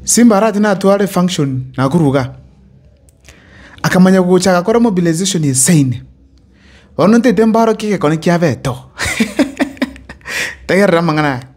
Simbarati natware function nakorwa iga, akamanya gocha agakora mobilization ase ime. Bono ntaete mbarokie egekone kia Beto. Tegerera amang'ana aya.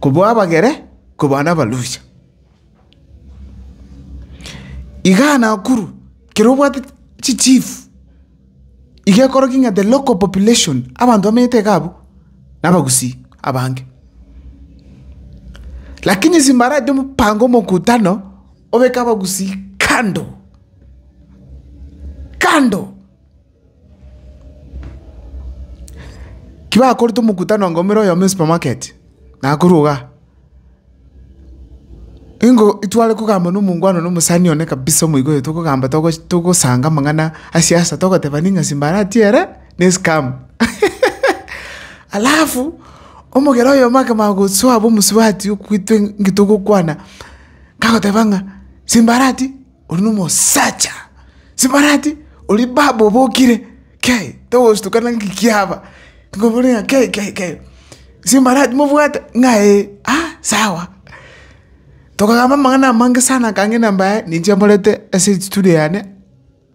kobua abagere kobua nabarusia. Igaa Nakuru kero obwate chi chief iga ekoroki ng'a the local population abanto bamenyete iga abwo nabagusii abange. Lakini ase mbaraite omopango omokutano obeke abagusii kando kando. Tibakorete omokutano anga omera oyomo esupermarket, nakorwa igaa. Ingo ntware kogamba na omongwana one omosani one kabisa omoika oye tokogamba togochi togosanga amang'ana a siasa togoteba ning'a simbarati ere na escam. Alafu, omogera oyomo akabaa gosoa bwa omosubati okwitwe nki togokwana, kagoteba ng'a simbarati. Oria nomosacha sibarati, oria baba obokire, kei, togostuka naki kikiaba, tokobori ng'a kei kei kei, sibarati mobwate? Ng'a ee, ah sawa. Tokagamba amang'ana amange sana akange na mbaye ninche mborete ase estudio yane,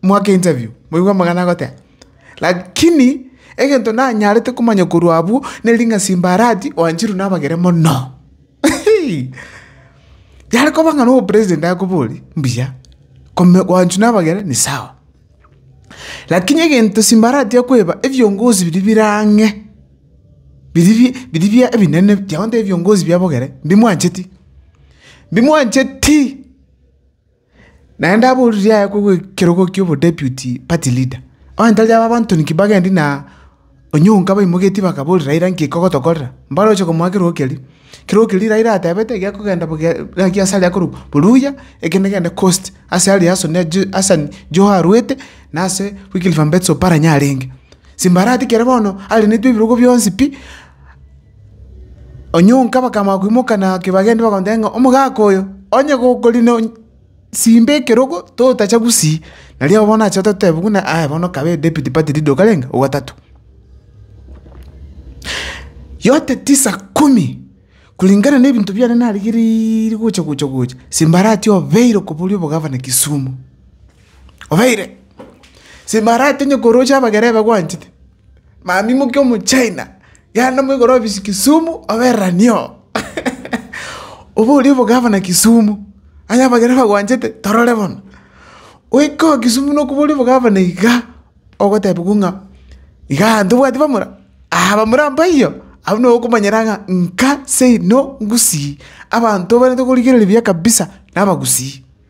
mwake interview, moigwe amang'ana agoteba. Lakini egento nanyarete komanya korwa abwo, neri ng'a sibarati oancherwa nabagere mono. Yare koba ng'a no president akoborie mbuya, kome gwanchu na abageni ni sawa. Lakini egento simba arati akoeba ebiongozi biri bire ang'e, biri bi biri bia ebinene tiago ntebia ebiongozi bia abageni mbimwancheti, mbimwancheti. Naende aboririe aye kw'ekerogo ki'obodeputi party leader, onye tari aba abanto ninki bagendi na onye onka baimogetie bakaboria Raila nki kogotokorera? Mbare oche komoa kerogo keria. Kerogo keria Raila atebete gekogenda bogia gaki ase aria akorokwa Oluhya ekende gende coast ase aria Hassan Ju Hassan Joho arwete na ase Wycliffe Ambetsa Oparanya arenge. Simbarati kere bono arenetwe ebirogo bionsi pi. Onyonka bakamanya koimoka na ake bagende bakamotebia ng'a omogaka oyo onye gokori no simba ekerogo totacha gusii nario bono nache ototebe buna aya bono kabe edepite pati riria okarenga ogatato. Yote tisa kumi kulingana na ebinto biane narigeriire gocha gocha gocha simbarati obeire okobori obogavana Kisumu obeire simbarati onye koroche abagera ebagwanchete. Mambia moke omochina yaenda moigoro ofisi Kisumu obereranie oo. Obo oria obo gavana Kisumu, onye abageni bagwanchete torore bono. Goika oo Kisumu nokoboria obo gavana iga ogotebiwa ng'a iga aa ntobwati bamura, aa bamura mpaiyo, abwo nabo okomanyera ng'a nka seino ngusii, abanto obarente korigereria buya kabisa nabagusii.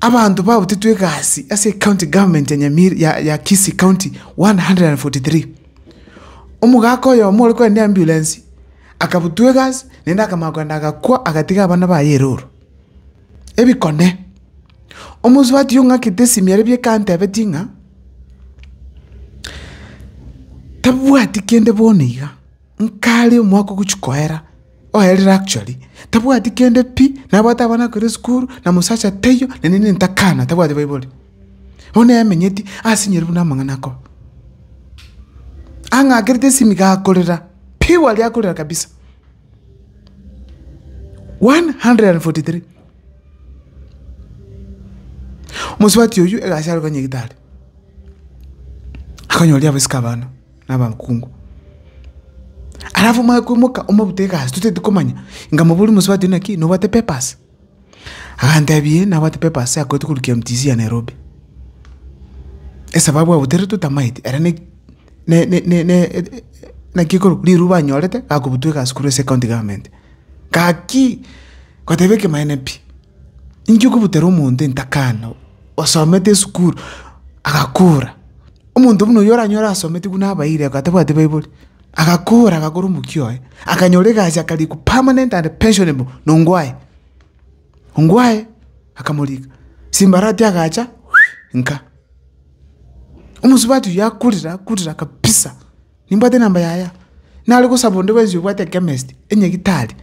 Abanto babutetwe egasi ase ecounty government ya Nyamira ya Kisii county 143. Omogaka oyomo ore korende ambulance akabutwa egasi naende akamanya kogenda agakwa agatiga abana baye erooro ebikone. Omosubati oyo ng'akete esimi ere bieka antebetie ng'a tabwati kende bono iga. Nkare omwaka ogochia koera, oerire actually, tabwati kende pi, nabwate abana akore esukuru, na mosacha taiyo, na nini ntakana, tabwati baibori. Bono emenyeti asinyore buna amang'ana akoba. Ang'akerete esimi iga akorera, purely akorera kabisa. One hundred and forty three. Mosubati oyio egasi aroka nyagetari, akonyoria abasike abana. nabakungu. Alafu omanye koimoka omorute egasi, totagete komanya inga mobori mosubati na ki, nobwate papers? Agantebia ee nabwate papers akoete korwa KMTC ya Nairobi. Esababu abuterete totamaeti, ere ne ne ne ne naki ekorwa, riruba anyorete akobutwa egasi korwa ase ecounty government. Gaki, goteba ekemanyeene pi. Ninki okobutera omonto entakaana osomete esukuru agakora, omonto buna oyio oranyore asomete buna abairi ako atabwati baibori, agakora agakora omokia oye, akanyora egasi akarikwa permanent and pensionable nongwaye, ongwaye akamorika, simbarati agacha nka. Omosubati oyio akorire akorire kabisa. Nimbwate enamba yaya. Nare gosaba onde bwensi obwate ekemist, enyegitari,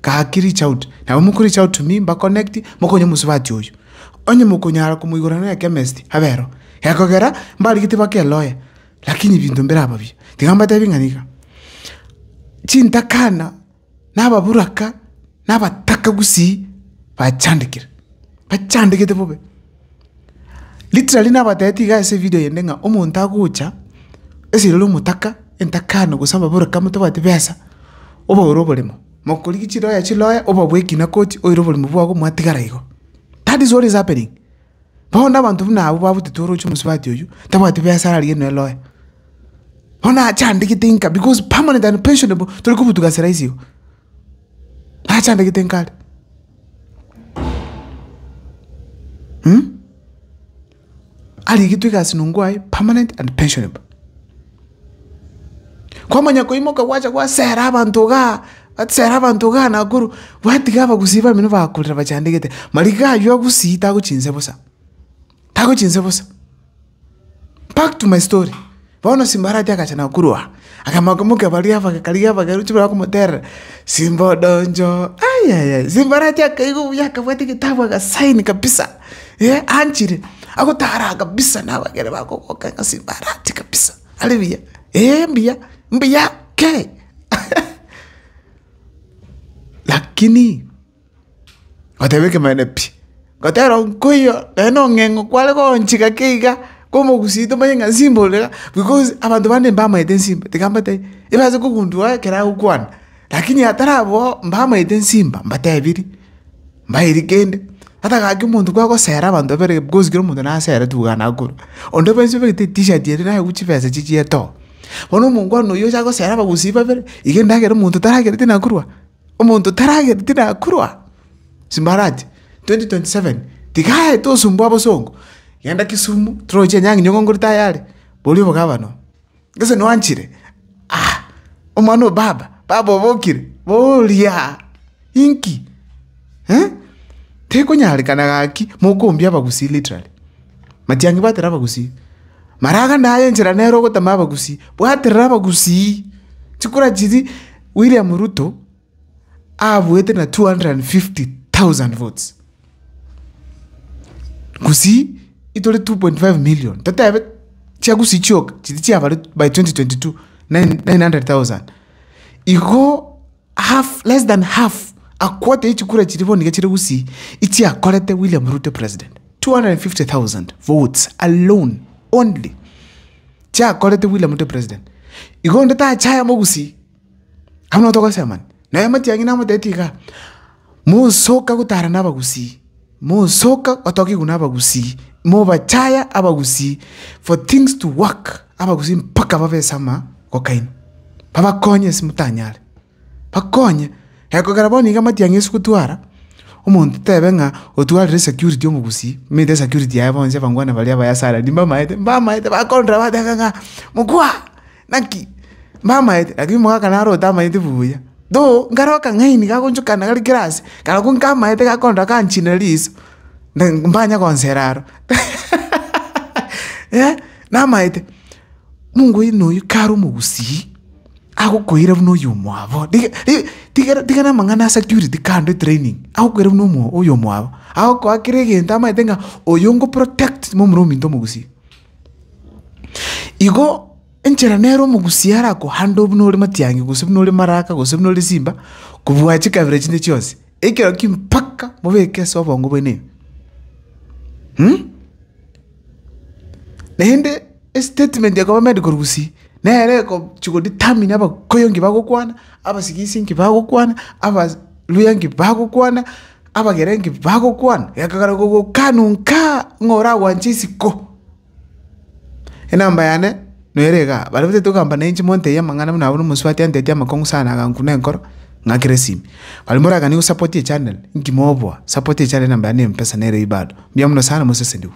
gaki reach out. Nabo moko reach out to me, mba connect, mokonye omosubati oyo. Onye mokonyara komoigorera nonya ekemist, abe ero. Gekogera, mbarigetie bake eloya, rakini binto mbiraba biya. Tiga mbatebi ng'a niga. Chintakana. nababuraka, nabataka gusii bachandekire, bachandegete bobe. Literally nabatebetie iga ase evidio eyende ng'a omonto agocha ase rero omotaka, entakano gose ababuraka motabwati besa, obaure oboremo, mokorigia chiroya chiroya obabue ekina koti oire oboremo bwago mwatigara igo. That is what is happening. Bono abanto buna abwo babutete orooche omosubati oyio, tabwati biasara riaye nonya lawyer. Bono ache andegete inka because permanent and pensionable tori kobutuka ase rahisi igo. Nache andegete inka are. Arigetwe egasi nongo aye permanent and pensionable. Kwamanya koimoka gwacha gwasera abanto igaa, gwasera abanto igaa nakorwa gwatiga abagusii bamenwa bakorera bachandegete, mariga aywo agusii tagochia inse bosa, tagochia inse bosa. Back to my story, bono Simbarati agacha nakorwa aa, akamoka mokia baria abagakariga abagerwa chibara bakomoterera, Simba odonjo, ayaya, Simbarati akaigwa buya akabwata egetabu aka sign kabisa. ee, anchire, agotara kabisa na abageni bakogoka eng'asi mbarati kabisa, are buya, ee mbuya, mbuya kei lakini ngoteba ekemanero pi, ngotera nkoiyo naende na ong'eng'o kware goonchika kei iga, komogusi tomanye ng'a nsimba ore iga, because abanto bande mbamaete nsimba, tiga mbate ebe ase kogundua ekero agokwana, lakini atari abwo, mbamaete nsimba, mbatebirie. mbairi kende, ata gaki omonto kwagosera abanto babere bikosi kera omonto nasere tugaa nakoro, onde bwensi obegete etishirt ere nayegwe chibesa echi chia etoo, bono omongwana oyio ocha gosera abagusii babere, iga endagera omonto taragereti nakorwa, omonto taragereti nakorwa, simbarati, twenty twenty seven tigaete osumbwa abasongo, genda kisumu, toroche enyang'inyogo ngore tayari, boria obogabana oo. Gose noanchire? Aa! Omwana o baba! Baba obokire! Boria aa! Inki? Eeh? Tekonyarekana gaki mokombia abagusii literally. Matiang'i bwaterera abagusii. Maraga naye enchera nere ogotama abagusii. Bwaterera abagusii. Chikura chiria William Ruto. abuete na 250,000 votes, Gusii itore 2.5 million, totebe chia Gusii chioka chiria chiabarwe by 2022 900,000, igo half less than half a quarter ya chikura chiria bono niga chire Gusii echiakorete William Ruto president, 250,000 votes alone only chiakorete William Ruto president, igo onde tacha aya mogusii. Abwo nigo togosesera mani. Naye amatiang'ina amotebitie igaa, Mosoka gotara nabagusii, mosoka gotokigwa nabagusii, mobachaya abagusii for things to work, abagusii mpaka babe esama gokaini. Babakonye ase motanyare, bakonye. Ekogera bono iga amatiang'i ase gotwara, omonto tebe ng'a otwarire security omogusii, omanyete esecurity yaye bonsi abangwana baria abayasaarani mbamaete, mbamaete, bakorora bateba ng'a mokwa. Naki mbamaete, lakini omogaka naro otamaeti buya, though nkare akang'aini gagonchokana gari kera ase, karabwo nkamaete gakonto gakanchina riso, na mbanye gonsera aro eh, namaete. Mungu oino oyio kare omogusii, agokoira buna oywo omwabo, tige ri tigere tigere amang'ana a security kando etraining, agokoira buna omo oywo omwabo, agokoa kera egento amaete ng'a oyo nkoprotect momura ominto omogusii. Igo enchera nere omogusia arakohande oo buna ore matiang'i gose buna ore maraka gose buna ore simba, kobua chikabera chinde chionsi, ekero ki mpaka mobeke ase obongo bwenene. Naende estatement ya koba medical gusii, nere ekochia godetermina abakoyo nki bagokwana, abasigisi nki bagokwana, abaluhya nki bagokwana. Abagerenki bagokwana, gekagera gogokana onka ng'a oragwanche isiko. Enamba yane nere iga, baria batete ogamba nainche montebie amang'ana buna abwo na omosubati antetie amakong'u sana agankuna enkoro, ng'akera esimi. Baria moraganie gosapotia echanel, inki moboa? Support echannel enamba yane ya mpesa nere ii bado. Mbuya mono sana mosesenigwe.